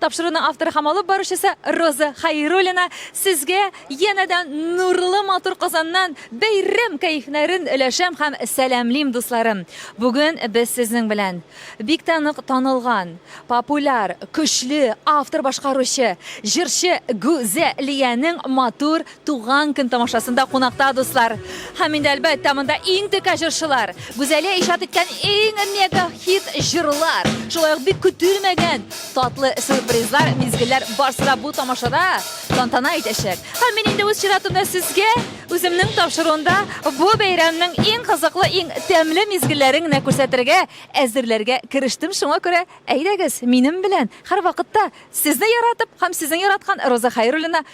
Тапшыруны авторы һәм алып баручысы Роза Хайруллина сезгә янәдән нурлы матур Казаннан бәйрәм кәефнәрен өләшәм һәм сәламлим, дусларым. Бүген без сезнең белән бик тә нык танылган, популяр, көчле автор-башкаручы, җырчы Гүзәлиянең матур Туган көн тамашасында кунакта дуслар. Һәм инде әлбәттә монда иң текә җырчылар. Гүзәлия иҗат иткән иң мега хит җырлар. Шулай ук бик көтелмәгән татлы сюрпризлар, мизгелләр барсы да бу тамашада тантана итәчәк. Һәм мин инде үз чиратымда сезгә үземнең тапшыруында бу бәйрәмнең иң кызыклы, иң тәмле мизгелләрен генә күрсәтергә, әзерләргә керештем. Шуңа күрә әйдәгез, минем белән һәрвакытта сезне яратып һәм сезнең яраткан Роза Хәйруллина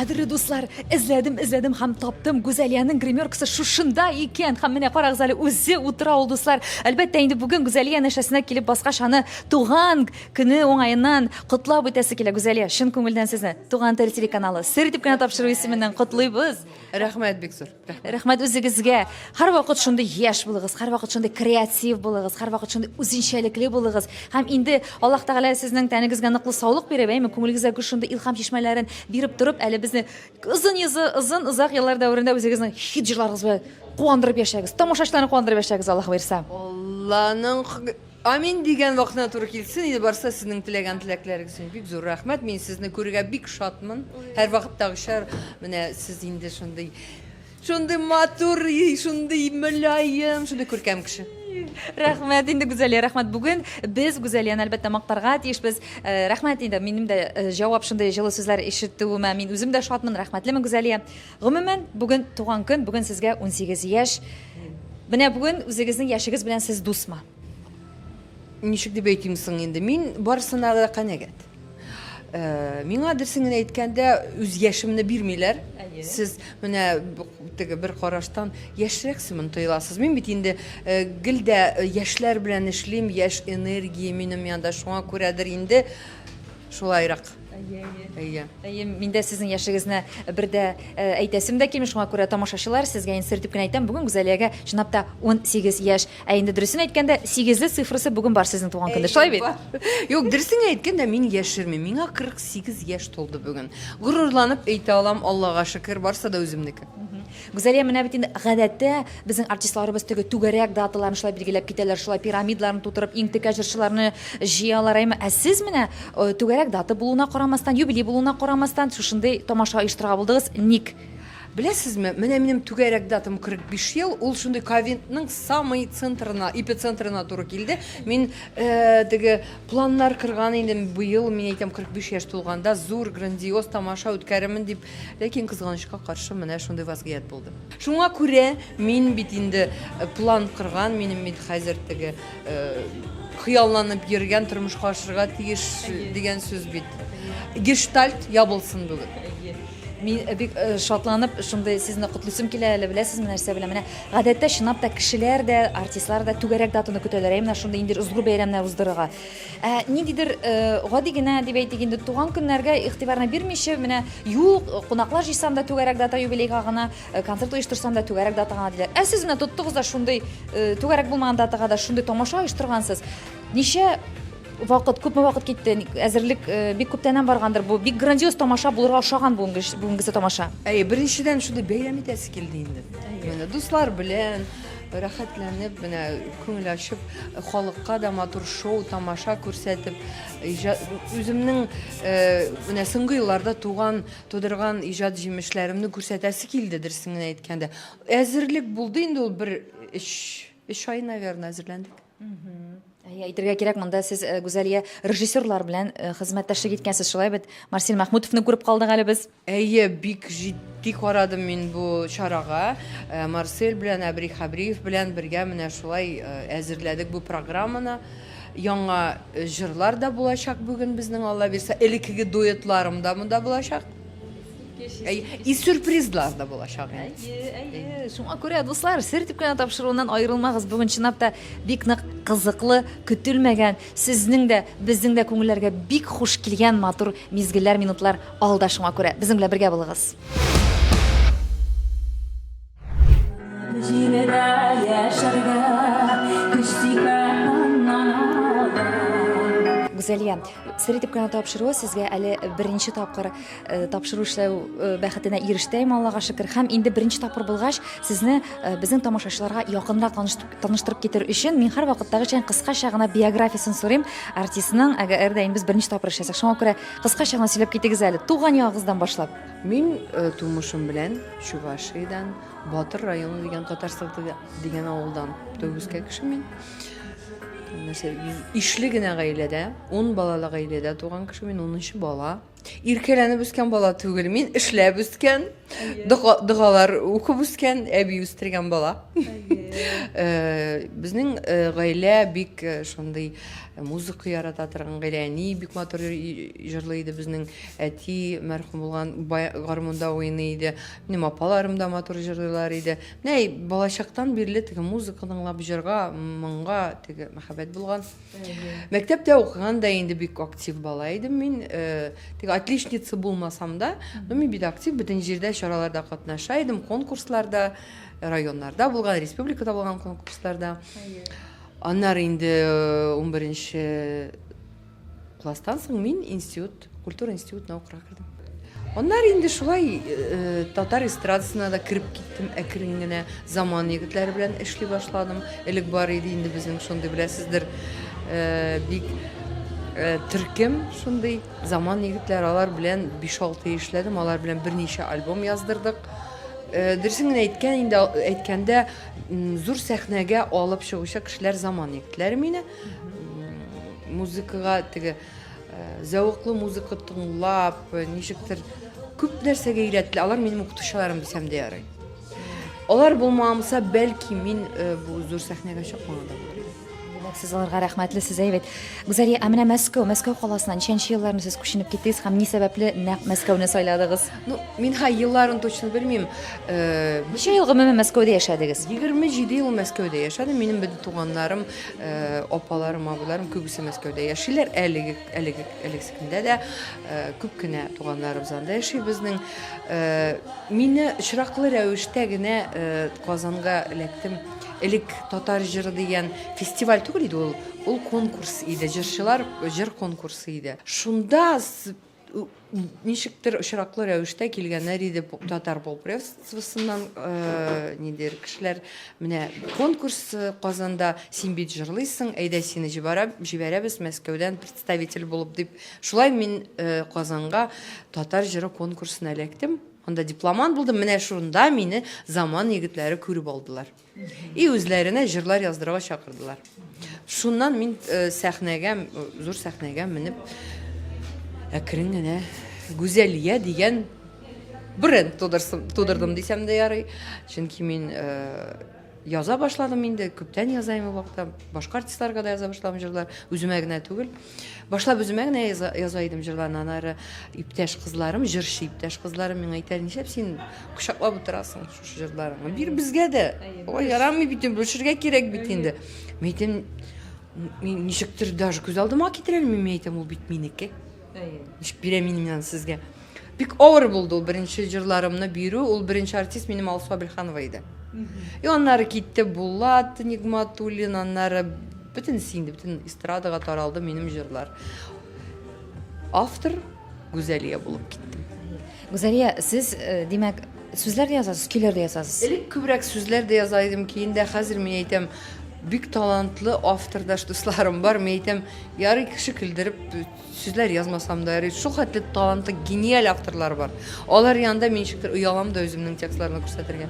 Кадерле дуслар, эзләдем, эзләдем һәм таптым. Гүзәлиянең гримеркасы шушында икән. Һәм менә карагыз әле, үзе утыра ул, дуслар. Әлбәттә, инде бүген Гүзәлия нәшәсенә килеп баскач, аны туган көне уңаеннан котлап үтәсе килә. Гүзәлия, чын күңелдән сезне Туган тел телеканалы сер итеп кенә тапшыру исеменнән котлыйбыз. Рәхмәт бик зур. Рәхмәт үзегезгә. Һәрвакыт шундый яшь булыгыз, һәрвакыт шундый креатив булыгыз, һәрвакыт шундый үзенчәлекле булыгыз. Һәм инде Аллаһ Тәгалә сезнең тәнегезгә ныклы саулык биреп, әйме, күңелегезгә гүр шундый илһам чишмәләрен биреп торып, әле безне озын йозы, озын озак еллар дәверендә үзегезнең хит җырларыгыз белән куандырып яшәгез. Тамашачыларны куандырып яшәгез, Аллаһ боерса. Алланың Амин дигән вакытына туры килсен иде барса сезнең теләгән теләкләрегез өчен бик зур рәхмәт мин сезне күрергә бик шатмын һәрвакыттагыча менә сез инде шундый шундый матур шундый мөлаем шундый күркәм кеше Рәхмәт инде Гүзәлия, рәхмәт. Бүген без Гүзәлияне әлбәттә мактарга тиешбез. Э, рәхмәт инде минем дә э, җавап шундый җылы сүзләр ишетүемә. Мин үзем дә шатмын, рәхмәтлемен Гүзәлия. Гомумән, бүген туган көн, бүген сезгә 18 яшь. Менә бүген үзегезнең яшегез белән сез дусмы? Ничек дип әйтим соң инде? Мин барсына да канәгәт. Э, миңа дөресен генә әйткәндә, үз яшемне бирмиләр. Сез менә теге бер караштан яшьрәксемен тоеласыз. Мин бит инде э, гел дә э, яшьләр белән эшлим, яшь энергия минем янда. Шуңа күрәдер инде Шулайрак. Әйе, әйе. Әйе, мин дә сезнең яшегезне бер дә э, әйтәсем дә килми, шуңа күрә тамашачылар сезгә инде сертип кенә әйтәм, бүген Гүзәлиягә чынлап та 18 яшь. Ә инде дөресен әйткәндә, 8 цифрасы бүген бар сезнең туган көндә. Шулай бит? Юк, дөресен әйткәндә, мин яшерми. Миңа 48 яшь тулды бүген. Горурланып әйтә алам, Аллага шөкер, барсы да үземнеке. Гүзәлия, менә бит инде гадәттә безнең артистларыбыз теге түгәрәк даталарны шулай билгеләп китәләр, шулай пирамидларны тутырып, иң текә җырчыларны җыялар, әйме? Ә сез менә э, түгәрәк дата булуына карамастан, юбилей булуына карамастан, шушындый тамаша оештырырга булдыгыз. Ник? Беләсезме, менә минем түгәрәк датам 45 ел, ул шундый ковидның самый центрына, эпицентрына туры килде. Мин э, теге планнар кырган идем, быел, мин әйтәм, 45 яшь тулганда зур, грандиоз тамаша үткәрермен дип Ләкин, кызганычка каршы, менә шундый вазгыять булды. Шуңа күрә мин бит инде план кырган, минем бит хәзер теге хыялланып йөргән тормышка ашырга тиеш дигән сүз бит. Гештальт ябылсын бүген. Мин э, бик э, шатланып шундый сезне котлыйсым килә әле беләсезме нәрсә белән менә гадәттә чынлап та кешеләр дә артистлар да түгәрәк датаны көтәләр ә менә шундый инде озгы бәйрәмнәр уздырырга Ә ниндидер гади генә дип әйтик инде туган көннәргә игътибарны бирмичә, менә юк, кунаклар җыйсам да түгәрәк дата юбилейга гына, концерт оештырсам да түгәрәк дата гына диләр. Ә сез менә тоттыгыз да шундый түгәрәк булмаган датага да шундый тамаша оештыргансыз. Ничә вакыт, күпме вакыт китте, әзерлек бик күптәннән баргандыр бу. Бик грандиоз тамаша булырга ошаган бүгенгесе тамаша. Әйе, беренчедән шундый бәйрәм итәсе килде инде. Менә дуслар белән, Рәхәтләнеп, менә күңел ачып, халыкка да матур шоу, тамаша күрсәтеп, иҗат үземнең менә соңгы елларда туган, тудырган иҗат җимешләремне күрсәтәсе килде, дөресен генә әйткәндә. Әзерлек булды инде ул бер өч, өч ай, наверное, әзерләндек. Әйе, әйтергә кирәк, монда сез э, Гүзәлия режиссерлар белән э, хезмәттәшлек иткәнсез, шулай бит? Марсель Махмутовны күреп калдык әле без. Әйе, бик җитди карадым мин бу чарага. Э, Марсель белән Әбри Хабриев белән бергә менә шулай әзерләдек бу программаны. Яңа җырлар да булачак бүген безнең Аллабирса. Элеккеге дуэтларым да монда булачак. И сюрпризлар да булачак инде. Әйе, шуңа күрә дуслар, сер дип кенә тапшыруыннан аерылмагыз. Бүген чынлап та бик нык кызыклы, көтелмәгән, сезнең дә, безнең дә күңелләргә бик хуш килгән матур мизгелләр, минутлар алда шуңа күрә. Безнең белән бергә булыгыз. Җирдә яшәргә Гүзәлия, сер итеп кенә тапшыруы сезгә әле беренче тапкыр Э, тапшыру эшләү э, бәхетенә ирештем аллага шөкер һәм инде беренче тапкыр булгач сезне э, безнең тамашачыларга якынрак таныштырып китер өчен мин һәр вакыттагыча кыскача гына биографиясен сорыйм артистның әгәр дә без беренче тапкыр эшләсәк шуңа күрә кыскача гына сөйләп китегез әле туган ягыгыздан башлап мин тумышым белән чувашиядән батыр районы дигән татарстан дигән авылдан төгезкә кеше мин нәрсә ишле генә гаиләдә ун балалы гаиләдә туган кеше мин унынчы бала Иркәләнеп үскән бала түгел мин, эшләп үскән, догалар укып үскән, әби үстергән бала. Э, безнең э, гаилә бик э, шундый музыка ярата торган гаилә. Әни бик матур җырлый иде безнең, әти мәрхүм булган гармунда уйный иде. Минем апаларым да матур җырлыйлар иде. Менә балачактан бирле теге музыка тыңлап җырга, моңга теге мәхәббәт булган. Мәктәптә укыган да инде бик актив бала идем мин. Э, тик отличница булмасам да, но мин бит актив бөтен җирдә чараларда катнаша идем, конкурсларда, районнарда булган, республикада булган конкурсларда. Аннары инде 11 э, класстан соң мин институт Культура институтына укырга кердем. Аннары инде шулай э, татар эстрадасына да кереп киттем әкрен генә. Заман егетләре белән эшли башладым. Элек бар иде инде безнең шундый беләсездер э, бик э, төркем шундый заман егетләр алар белән 5-6 эшләдем, алар белән берничә альбом яздырдык. Э, Дөресен генә әйткән инде әйткәндә зур сәхнәгә алып чыгучы кешеләр заман егетләре мине. Музыкага теге Зәвыклы музыка тыңлап, ничектер күп нәрсәгә өйрәтте. Алар минем укытучыларым дисәм дә ярый. Алар булмамса, бәлки мин э, бу зур сәхнәгә чыкмаган да булыр идем. Димәк, сез аларга рәхмәтле, сез әйбәт. Гүзәлия, ә менә Мәскәү, Мәскәү каласына ничәнче елларны сез күченеп киттегез һәм ни сәбәпле нәкъ Мәскәүне сайладыгыз? Ну, мин ха елларын точно белмим. Э, Ничә ел гомумән Мәскәүдә яшәдегез? 27 ел Мәскәүдә яшәдем. Минем бөтен туганнарым Апаларым, абыйларым күбесе Мәскәүдә яшиләр. Әлеге, әлеге, әлегескендә дә күп кенә туганнарыбыз анда яши безнең. Мине очраклы рәвештә генә Казанга эләктем. Элек татар җыры дигән фестиваль түгел иде ул, ул конкурс иде, җырчылар җыр конкурсы иде. Шунда ничектер очраклы рәвештә килгәннәр иде татар полпредствосыннан э, нидер кешеләр менә конкурс э, казанда син бит җырлыйсың әйдә сине җибәрәбез мәскәүдән представитель булып дип шулай мин э, казанга татар җыры конкурсына эләктем анда дипломант булдым менә шунда мине заман егетләре күреп алдылар И үзләренә җырлар яздырырга чакырдылар. Шуннан мин э, сәхнәгә, э, зур сәхнәгә менеп, әкрен генә Гүзәлия дигән бренд тудырдым дисәм дә ярый. Чөнки мин э, яза башладым инде, күптән язайм ул вакытта. Башка артистларга да яза башладым җырлар, үземә генә түгел. Башлап үземә генә яза, яза идем җырларны, анары иптәш кызларым, җырчы иптәш кызларым миңа әйтә, нишләп син кочаклап утырасың шушы җырларыңны? Бир безгә дә. Ой, ярамый бит, бүлешергә кирәк бит инде. Мин әйтәм, мин ничектер даже күз алдыма китерә алмыйм, мин әйтәм, ул бит минеке. Ничек бирәм мин аны сезгә? Бик авыр булды ул беренче җырларымны бирү. Ул беренче артист минем Алсу Абелханова иде. И аннары китте Булат Нигматуллин, аннары бөтен инде, бөтен эстрадага таралды минем җырлар. Автор Гүзәлия булып киттем. Гүзәлия, сез, э, димәк, сүзләр дә язасыз, көйләр дә язасыз. Элек күбрәк сүзләр дә яза идем, киин дә хәзер мин әйтәм, бик талантлы автордаш дусларым бар, мин әйтәм, ярый кеше көлдереп Сүзләр язмасам да ярый. Шул хәтле талантлы, гениаль авторлар бар. Алар янында мин ничектер оялам да үземнең текстларны күрсәтергә.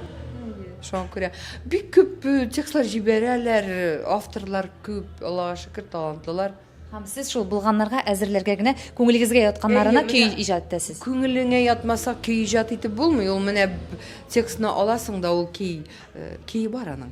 Шуңа күрә бик күп э, текстлар җибәрәләр, э, авторлар күп, Аллага шөкер, талантлылар. Һәм сез шул булганнарга әзерләргә генә күңелегезгә ятканнарына Әйе, көй менә. иҗат итәсез. Күңелеңә ятмаса көй иҗат итеп булмый. Ул менә б- текстны аласың да ул көй, э, көе бар аның.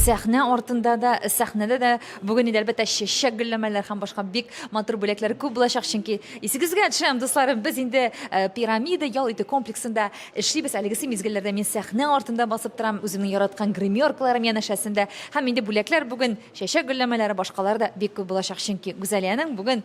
сәхнә артында да сәхнәдә дә бүген инде әлбәттә чәчәк гөлләмәләр һәм башка бик матур бүләкләр күп булачак чөнки исегезгә төшерәм дусларым без инде э, пирамида ял итү комплексында эшлибез әлегесе мизгелләрдә мин сәхнә артында басып торам үземнең яраткан гримеркаларым янәшәсендә һәм инде бүләкләр бүген чәчәк гөлләмәләре башкалар да бик күп булачак чөнки гүзәлиянең бүген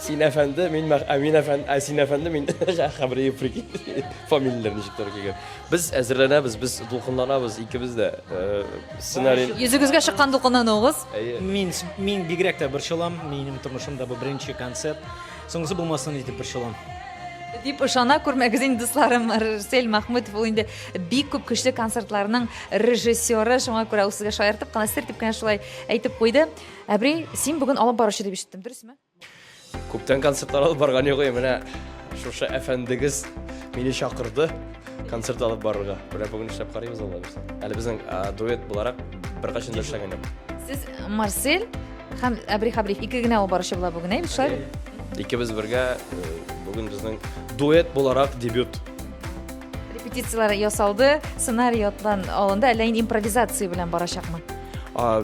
Син әфәнде, мин мәх... ә мин әфәнде, ә син әфәнде, мин Хәбриев, прикинь. Фамилияләр ничек туры килгән. Без әзерләнәбез, без дулкынланабыз икебез дә. Э, сценарий. Йөзегезгә чыккан дулкынлануыгыз. Әйе. Мин мин бигрәк тә борчылам. Минем тормышымда бу беренче концерт. Соңгысы булмасын итеп борчылам. Дип ышана күрмәгез инде дусларым. Рсель Махмутов ул инде бик күп көчле концертларның режиссеры. Шуңа күрә ул сезгә шаяртып кына, сер дип кенә шулай әйтеп куйды. Әбри, син бүген алып баручы дип ишеттем, дөресме? Күптән концертлар алып барган юк, менә шушы әфәндегез мине чакырды концерт алып барырга. Менә бүген эшләп карыйбыз алла бирсә. Әле безнең дуэт буларак беркайчан да эшләгән юк. Сез Марсель һәм Әбри Хабриев ике генә алып баручы була бүген, әйбит шулай бит? Икебез бергә бүген безнең дуэт буларак дебют. Репетицияләр ясалды, сценарий ятлан алынды, әллә инде импровизация белән барачакмы?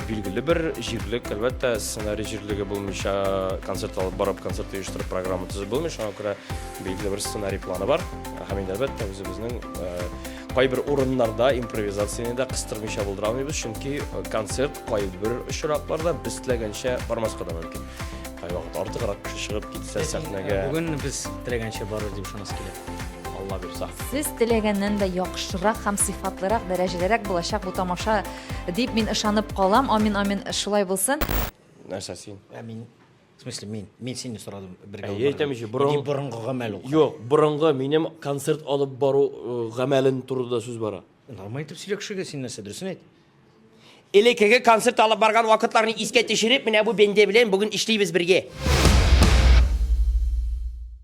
Билгеле бер җирлек, әлбәттә, сценарий җирлеге булмыйча, концерт алып барып, концерт оештырып, программа төзеп булмый, шуңа күрә билгеле бер сценарий планы бар. Һәм инде, әлбәттә, үзебезнең кайбер урыннарда импровизацияне дә кыстырмыйча булдыра алмыйбыз, чөнки концерт кайбер очракларда без теләгәнчә бармаска да мөмкин. Кайвакыт артыграк кеше чыгып китсә сәхнәгә. Бүген без теләгәнчә барыр дип ышанасы килә. Алла бирса. Сез теләгәннән дә яхшырак һәм сыйфатлырак, дәрәҗәлерәк булачак бу тамаша. Дип мин ышанып калам. Амин, амин, шулай булсын. Нәрсә син? Ә мин В смысле, мин, мин сине сорадым бергә. Әйе, әйтәм җи, борын... Мин борынгы гамәл укы. Юк, борынгы минем концерт алып бару э, гамәлен турында сүз бара. Нормаль итеп сөйлә кешегә син нәрсә, дөресен әйт. Элекеге концерт алып барган вакытларны искә төшереп, менә бу бенде белән бүген эшлибез бергә.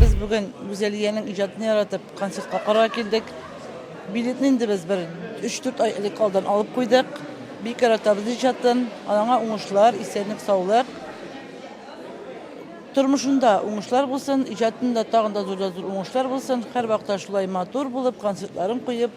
Без бүген Гүзәлиянең иҗатын яратып концертка карарга килдек. Билетны инде без бер 3-4 ай элек алдан алып куйдык. Бик яратабыз иҗатын. Аңа уңышлар, исәнлек, саулык. Тормышында уңышлар булсын, иҗатында тагын да зур да зур уңышлар булсын. Һәрвакыт та шулай матур булып, концертларын куеп,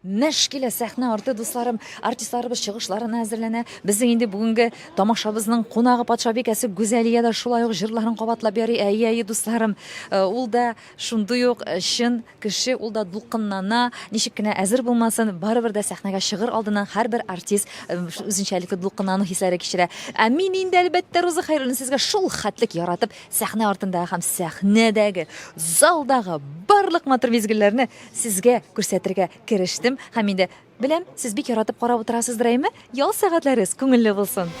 Мәш килә сәхнә арты, дусларым! Артистларыбыз чыгышларына әзерләнә. Безнең инде бүгенге тамашабызның кунагы патшабикәсе Гүзәлия дә шулай ук җырларын кабатлап яри. Әйе, әйе, дусларым, э, ул да шундый ук э, чын кеше, ул да дулкынлана. Ничек кенә әзер булмасын, барыбер дә сәхнәгә чыгыр алдыннан һәрбер артист э, үзенчәлекле дулкынлану хисләре кичерә. Ә мин инде, әлбәттә, Роза Хәйруллина сезгә шул хәтлек яратып, сәхнә артындагы һәм сәхнәдәге, залдагы барлык матур мизгелләрне Сезгә күрсәтергә керештем һәм инде беләм, сез бик яратып карап утырасыздыр, әйме? Ял сәгатьләрегез күңелле булсын!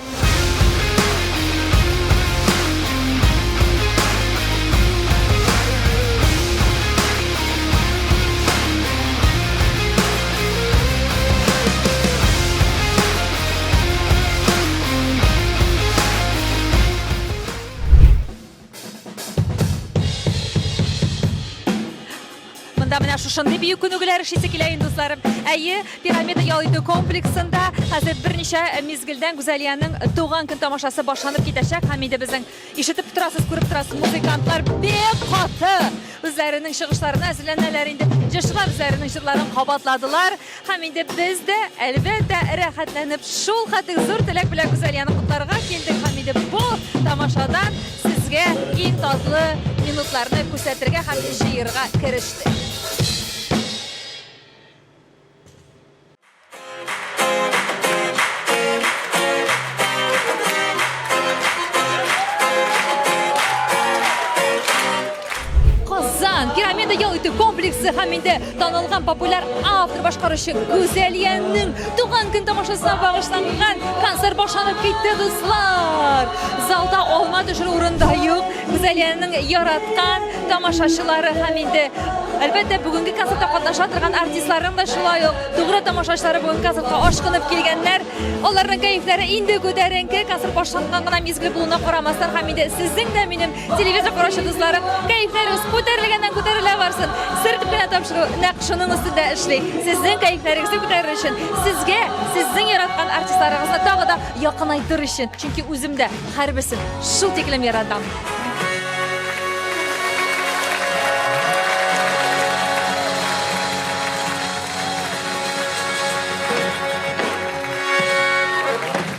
Монда менә шушындый бию күнегүләр эшлисе килә инде дусларым. Әйе, пирамида ял итү комплексында хәзер берничә мизгелдән Гүзәлиянең туган көн тамашасы башланып китәчәк һәм инде безнең ишетеп торасыз, күреп торасыз, музыкантлар бик каты үзләренең чыгышларына әзерләнәләр инде. Җырчылар үзләренең җырларын кабатладылар. Һәм инде без дә, әлбәттә, рәхәтләнеп, шул хәтле зур теләк белән Гүзәлияне котларга килдек һәм инде бу тамашадан сезгә иң татлы минутларны күрсәтергә һәм җыерга керештек. Казан, пирамида ял итү комплексы һәм инде Танылган популяр автор башкаручы Гүзәлиянең туган көн тамашасына багышланган концерт башланып китте, дуслар. Залда алма төшерү урында юк. Гүзәлиянең яраткан тамашачылары һәм инде Әлбәттә, бүгенге концертта катнаша торган артистларның да шулай ук тугры тамашачылары бүгенге концертка ашкынып килгәннәр. Аларның кәефләре инде күтәренке, концерт башланган гына мизгел булуына карамастан, һәм инде сезнең дә минем Телевизор караучы дусларым, кәефләрегез күтәрелгәннән күтәрелә барсын. Сер дип кенә тапшыру нәкъ шуның өстендә эшли. Сезнең кәефләрегезне күтәрер өчен, сезгә сезнең яраткан артистларыгызны тагы да якынайтыр өчен. Чөнки үзем дә һәрберсен шул тиклем яратам.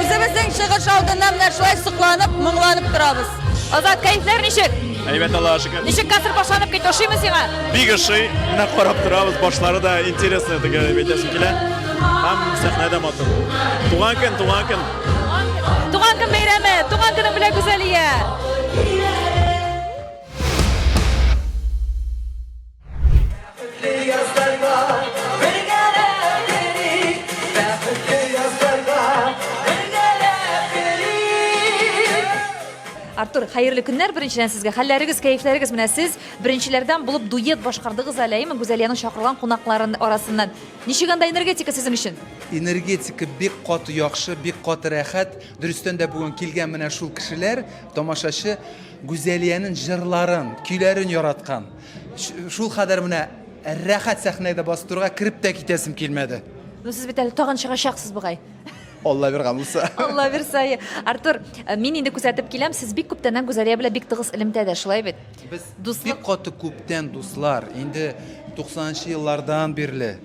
Үзебезнең чыгыш алдында менә шулай сокланып, моңланып торабыз. Азат, кәйфләр ничек? Әйбәт Аллаһ шөкер. Ничек концерт башланып китте, ошыймы сиңа? Бик ошый. Менә карап торабыз, башлары да интересный дип әйтәсем килә. Һәм сәхнәдә матур. Туган көн, туган көн. Туган көн бәйрәме, туган көнең белән Гүзәлия. Артур, хәерле көннәр беренчедән сезгә. Хәлләрегез, кәефләрегез менә сез беренчеләрдән булып дуэт башкардыгыз әле, әйеме? Гүзәлиянең чакырылган кунакларын арасыннан. Ничек анда энергетика сезнең өчен? Энергетика бик каты яхшы, бик каты рәхәт. Дөрестән дә бүген килгән менә шул кешеләр, тамашачы Гүзәлиянең җырларын, көйләрен яраткан. Шул кадәр менә рәхәт сәхнәдә бастырга кереп тә китәсем килмәде. Ну сез бит әле тагын чыгачаксыз бугай. Алла биргән булса. Алла бирса. Артур, э, мин инде күзәтеп киләм, сез бик күптәннән Гүзәлия белән бик тыгыз элемтәдә, шулай бит? Без дуслык бик каты күптән дуслар. Инде 90 нчы еллардан бирле.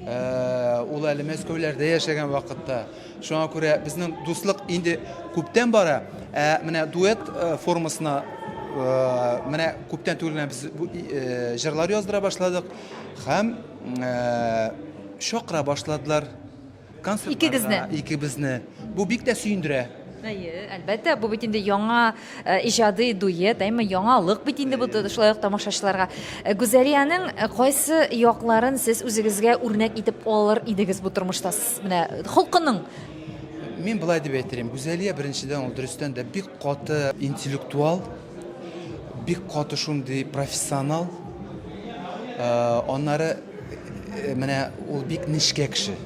Э, ул әле Мәскәүләрдә яшәгән вакытта Шуңа күрә безнең дуслык инде күптән бара, ә менә дуэт э, формасына э, менә күптән түгел генә без бу э, җырлар яздыра башладык һәм э, чакыра башладылар концертларга Икегезне? икебезне. Бу бик тә сөендерә. Әйе, әлбәттә, бу бит инде яңа э, иҗади дуэт, әйме яңалык бит инде бу шулай ук тамашачыларга. Э, Гүзәлиянең э, кайсы якларын сез үзегезгә үрнәк итеп алыр идегез бу тормышта? Менә холкының Мин былай дип әйтер идем, Гүзәлия беренчедән ул дөрестән дә бик каты интеллектуал, Бик каты шундый профессионал. Э, аннары э, менә ул бик нечкә кеше.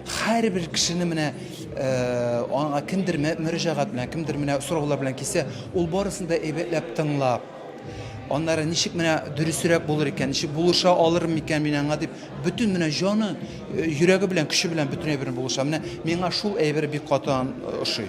Һәрбер кешене менә э, аңа кемдер мөрәҗәгать белән, кемдер менә сораулар белән кисә, ул барысын да әйбәтләп тыңлап, аннары ничек менә дөресрәк булыр икән, ничек булыша алырмын икән мин аңа дип Бөтен менә җаны, э, йөрәге белән, көче белән бөтен әйберен булыша. Менә миңа шул әйбер бик каты ан- э, ошый.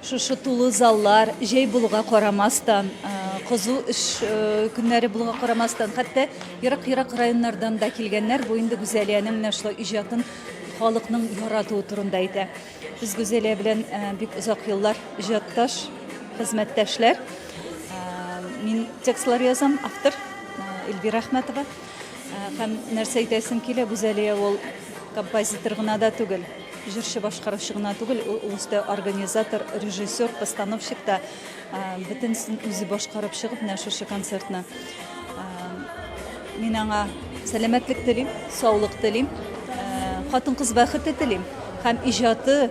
Шушы тулы заллар, җәй булуга карамастан, кызу эш көннәре булуга карамастан, хәтта ерак-ерак районнардан да килгәннәр. Бу инде Гүзәлиянең менә шулай иҗатын халыкның яратуы турында әйтә. Без Гүзәлия белән бик озак еллар иҗатташ, хезмәттәшләр. Мин текстлар язам, автор Эльвира Әхмәтова. Һәм нәрсә әйтәсем килә, Гүзәлия ул композитор гына да түгел, җырчы башкаручы гына түгел, ул үсте организатор, режиссер, постановщик та бөтенесен үзе башкарып чыгып, менә шушы концертны. Мин аңа сәламәтлек телим, саулык телим, хатын-кыз бәхете телим һәм иҗаты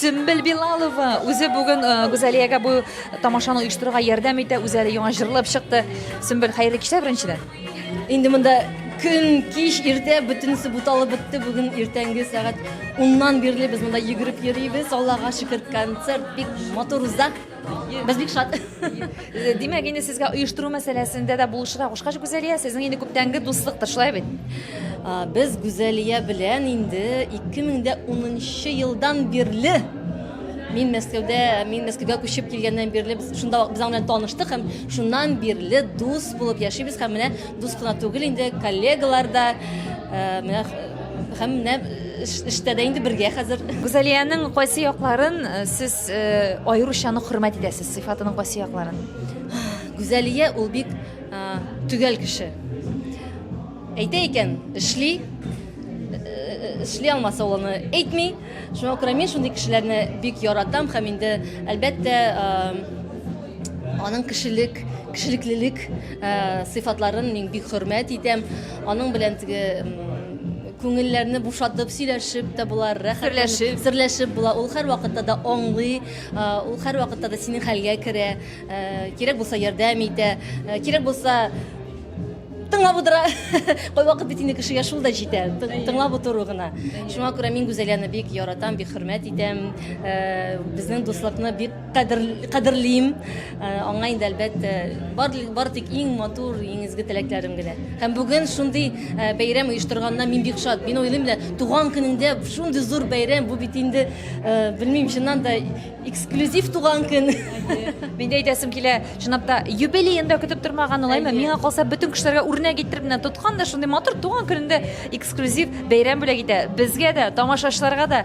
Сөмбел Билалова үзе бүген э, Гүзәлиягә бу тамашаны оештыруга ярдәм итә, үзе әле яңа җырлап чыкты. Сөмбел, хәерле кичә беренчедән. Инде монда көн, кич, иртә бөтенесе буталып бетте. Бүген иртәнге сәгать 10-нан бирле без монда йөгереп йөрибез. Аллага шөкер, концерт бик матур уза. Без бик шат. Димәк, инде сезгә оештыру мәсьәләсендә дә булышырга кушкач, Гүзәлия, сезнең инде күптәнге дуслыктыр, шулай бит? Без Гүзәлия белән инде 2010 елдан бирле мин Мәскәүдә, мин Мәскәүгә күчеп килгәннән бирле без шунда без аның белән таныштык һәм шуннан бирле дус булып яшибез һәм менә дус кына түгел инде коллегалар да э, менә һәм менә эштә дә инде бергә хәзер. Гүзәлиянең кайсы якларын э, сез Аеруча нык хөрмәт итәсез сыйфатының кайсы якларын? Гүзәлия ул бик төгәл кеше. Әйтә икән, эшли, эшли алмаса ул аны әйтми. Шуңа күрә мин шундый кешеләрне бик яратам һәм инде әлбәттә аның кешелек кешелеклелек сыйфатларын мин бик хөрмәт итәм. Аның белән теге Күңелләрне бушатып, сөйләшеп тә була, рәхәт. Серләшеп. Серләшеп була. Ул һәрвакытта да аңлый, а, ул һәрвакытта да синең хәлгә керә, ә, кирәк булса ярдәм итә, ә, кирәк булса тыңлап утыра. Кайвакыт бит инде кешегә шул да җитә, тын- тыңлап утыру гына. Шуңа күрә мин Гүзәлияне бик яратам, бик хөрмәт итәм, ә, безнең дуслыкны бик Кадер, кадерлим. Э, аңа инде әлбәттә бар, бар тик иң матур, иң изге теләкләрем генә. Һәм бүген шундый э, бәйрәм оештырганына мин бик шат. Мин уйлыйм да, туган көнендә шундый зур бәйрәм, бу бит инде, э, белмим, чыннан да эксклюзив туган көн. Мин әйтәсем килә, чынлап та юбилеен дә көтеп тормаган улайма. Миңа калса бөтен кешеләргә үрнәк иттереп менә тоткан да шундый матур туган көнендә эксклюзив бәйрәм бүләк итә. Безгә дә, тамашачыларга да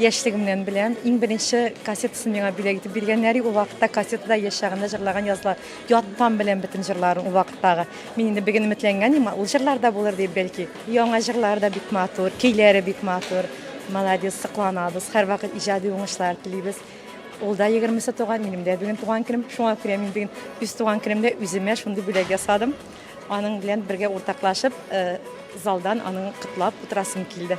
Яшьлегемнән беләм. Иң беренче кассетасын миңа бүләк итеп биргәннәр. Ул вакытта кассетада яшь чагында җырлаган язлар. Яттан беләм бөтен җырларын ул вакыттагы. Мин инде бигенә өметләнгән идем, ул җырлар да булыр дип бәлки. Яңа җырлар да бик матур, көйләре бик матур. Молодец, сокланабыз. Һәрвакыт иҗади уңышлар телибез. Ул да 20 туган, минем дә бүген туган көнем. Шуңа күрә мин бүген үз туган көнемдә үземә шундый бүләк ясадым. Аның белән бергә уртаклашып, э, залдан аның котлап утырасым килде.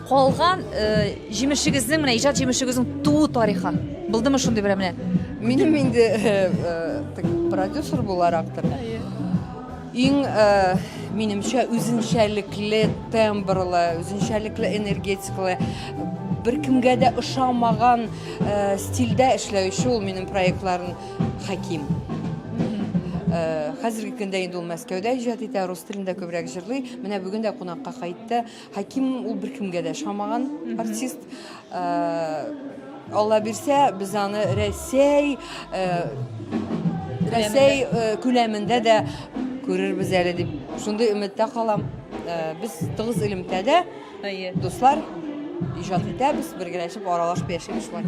Калган җимешегезнең, менә иҗат җимешегезнең туу тарихы. Булдымы шундый берәр менә? Минем инде продюсер буларактыр. Иң минемчә үзенчәлекле тембрлы, үзенчәлекле энергетикалы беркемгә дә ошамаган э, стильдә эшләүче ул минем проектларын Хәким. Э, хәзерге көндә инде ул Мәскәүдә иҗат итә, рус телендә күбрәк җырлый. Менә бүген дә кунакка кайтты. Хәким ул беркемгә дә шамаган артист. Алла бирсә, без аны Рәсәй Рәсәй күләмендә дә күрербез әле дип шундый өметтә калам. Без тыгыз элемтәдә, дуслар, иҗат итәбез, бергәләшеп аралашып яшибез шулай.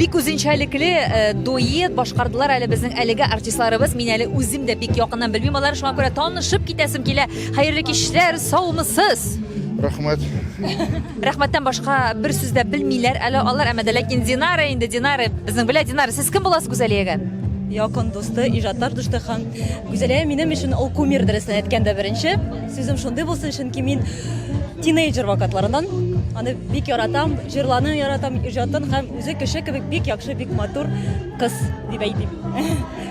бик үзенчәлекле э, дуэт башкардылар әле безнең әлеге артистларыбыз. Мин әле үзем дә бик якыннан белмим алар, шуңа күрә танышып китәсем килә. Хәерле кичләр, саумысыз. Рәхмәт. Рәхмәттән башка бер сүз дә белмиләр әле алар, әмма дә ләкин Динара инде, Динара безнең белә, Динара, сез кем буласыз Гүзәлиягә? Якын дусты, иҗатташ дусты һәм Гүзәлия минем өчен ул кумир дөресен әйткәндә беренче. Сүзем шундый булсын, чөнки мин тинейджер вакытларыннан аны бик яратам, җырларны яратам, иҗатын һәм үзе кеше кебек бик яхшы, бик матур кыз дип әйтим.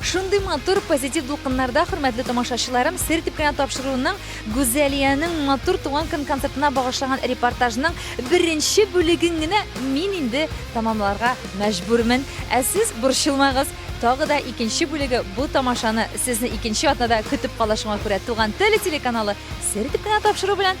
Шундый матур позитив дулкыннарда, хөрмәтле тамашачыларым, сер дип кенә тапшыруның Гүзәлиянең матур туган көн концертына багышлаган репортажның беренче бүлеген генә мин инде тәмамларга мәҗбүрмен. Ә сез борчылмагыз, тагы да икенче бүлеге бу тамашаны сезне икенче атнада көтеп кала шуңа күрә Туган теле телеканалы сер дип кенә тапшыру белән